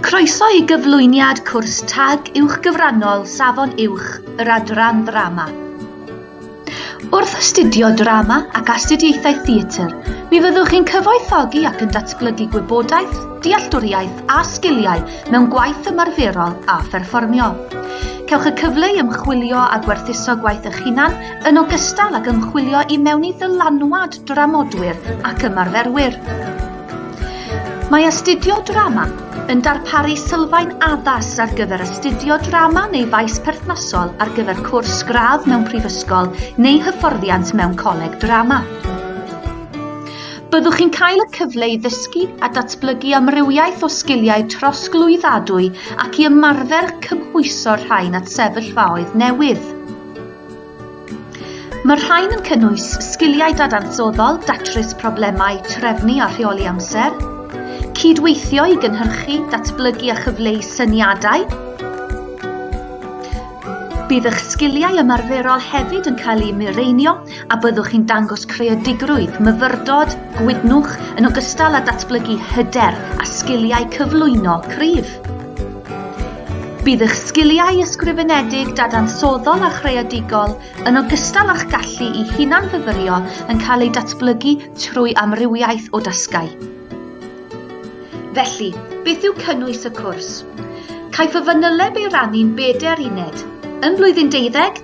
Croeso i gyflwyniad cwrs tag uwchgyfrannol Safon Uwch yr Adran Ddrama. Wrth astudio drama ac astudiaethau theatr, mi fyddwch chi'n cyfoethogi ac yn datblygu gwybodaeth, dealltwriaeth a sgiliau mewn gwaith ymarferol a pherfformio. Cewch y cyfle i ymchwilio a gwerthuso gwaith eich hunan yn ogystal ag ymchwilio i mewn i ddylanwad dramodwyr ac ymarferwyr. Mae Astudio Drama yn darparu sylfaen addas ar gyfer astudio drama neu faes perthnasol ar gyfer cwrs gradd mewn prifysgol neu hyfforddiant mewn coleg drama. Byddwch chi'n cael y cyfle i ddysgu a datblygu amrywiaeth o sgiliau trosglwyddadwy ac i ymarfer cymhwyso'r rhain at sefyllfaoedd newydd. Mae'r rhain yn cynnwys sgiliau dadansoddol, datrys problemau, trefnu a rheoli amser, cydweithio i gynhyrchu, datblygu a chyfleu syniadau, Bydd eich sgiliau ymarferol hefyd yn cael eu mireinio a byddwch chi'n dangos creadigrwydd, myfyrdod, gwydnwch yn ogystal â datblygu hyder a sgiliau cyflwyno cryf. Bydd eich sgiliau ysgrifenedig, dadansoddol a chreadigol, yn ogystal â'ch gallu i hunanfyfyrio yn cael eu datblygu trwy amrywiaeth o dasgau. Felly, beth yw cynnwys y cwrs? Caiff y fanyleb ei rannu'n bedair uned. Yn Blwyddyn Deuddeg,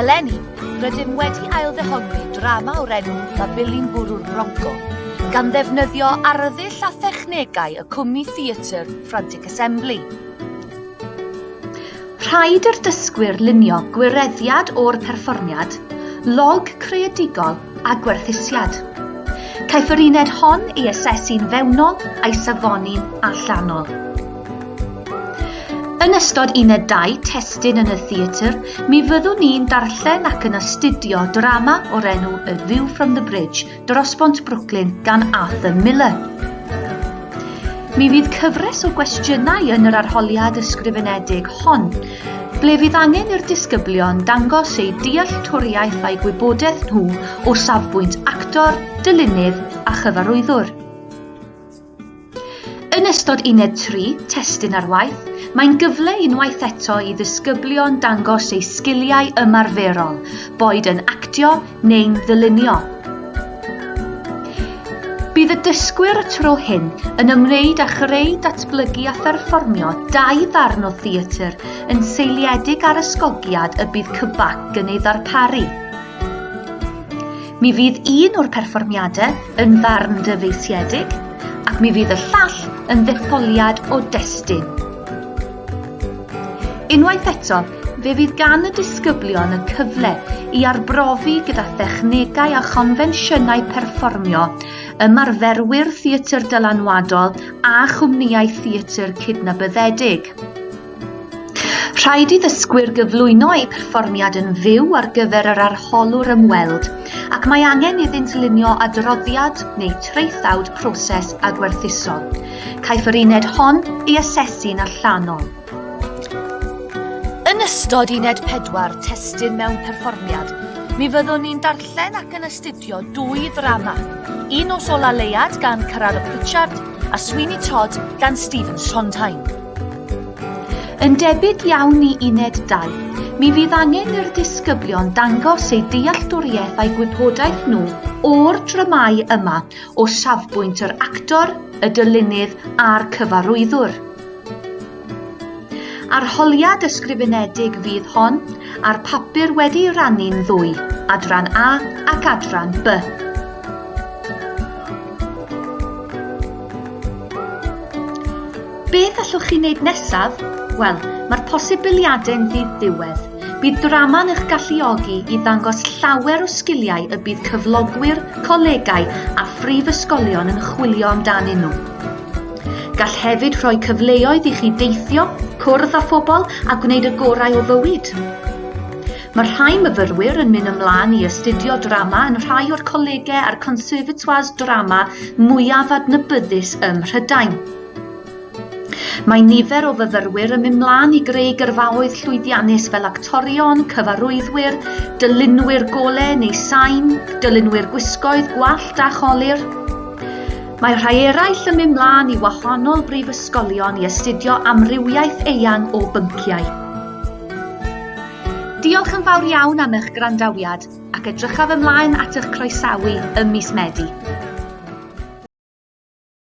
Eleni, rydym wedi ailddehongli drama o'r enw Mabili'n Bwrw'r Bronco, gan ddefnyddio arddull a thechnegau y cwmni theatr Frantic Assembly. Rhaid i'r dysgwyr lunio gwireddiad o'r perfformiad, log creadigol a gwerthusiad. Caiff yr uned hon ei asesu'n fewnol a'i safoni'n allanol. Yn ystod unedau testun yn y theatr, mi fyddwn ni'n darllen ac yn astudio drama o'r enw A View from the Bridge, Dros Bont Brooklyn, gan Arthur Miller. Mi fydd cyfres o gwestiynau yn yr arholiad ysgrifenedig hon, ble fydd angen i'r disgyblion dangos eu dealltwriaeth a'i gwybodaeth nhw o safbwynt actor, dylunydd a chyfarwyddwr. Yn ystod uned 3, testun ar waith, mae'n gyfle unwaith eto i ddisgyblion dangos eu sgiliau ymarferol, boed yn actio neu'n ddylunio. Bydd y dysgwyr y tro hyn yn ymwneud â chreu, datblygu a pherfformio dau ddarn o theatr yn seiliedig ar ysgogiad y bydd Cybac yn ei ddarparu. Mi fydd un o'r perfformiadau yn ddarn dyfeisiedig ac mi fydd y llall yn ddetholiad o destun. Unwaith eto, fe fydd gan y disgyblion y cyfle i arbrofi gyda thechnegau a chonfensiynau perfformio ymarferwyr theatr dylanwadol a chwmnïau theatr cydnabyddedig. Rhaid i ddysgwyr gyflwyno eu perfformiad yn fyw ar gyfer yr arholwr ymweld ac mae angen iddynt lunio adroddiad neu traethawd proses adwerthusol. Caiff yr uned hon ei asesu'n allanol. Yn ystod uned 4, testun mewn perfformiad, mi fyddwn ni'n darllen ac yn astudio dwy ddrama, Un nos ola Leuad gan Carrara Pritchard a Sweeney Todd gan Stephen Sondheim. Yn debyg iawn i uned 2, mi fydd angen i'r disgyblion dangos eu dealltwriaeth a'i gwybodaeth nhw o'r dramâu yma o safbwynt yr actor, y dylunydd a'r cyfarwyddwr. Arholiad ysgrifenedig fydd hon a'r papur wedi ei rannu'n ddwy, adran A ac adran B. Be gallwch chi wneud nesaf? Wel, mae'r posibiliadau'n ddiwedd. Bydd drama'n eich galluogi i ddangos llawer o sgiliau y bydd cyflogwyr, colegau a phrifysgolion yn chwilio amdanyn nhw. Gall hefyd rhoi cyfleoedd i chi deithio, cwrdd â phobl a gwneud y gorau o fywyd. Mae rhai myfyrwyr yn mynd ymlaen i astudio drama yn rhai o'r colegau a'r conservatoires drama mwyaf adnabyddus ym Mhrydain. Mae nifer o fyfyrwyr yn mynd mlaen i greu gyrfaoedd llwyddiannus fel actorion, cyfarwyddwyr, dylunwyr gole neu sain, dylunwyr gwisgoedd, gwallt a cholir. Mae rhai eraill yn mynd mlaen i wahanol brifysgolion i astudio amrywiaeth eang o bynciau. Diolch yn fawr iawn am eich gwrandawiad ac edrychaf ymlaen at eich croesawu ym mis Medi.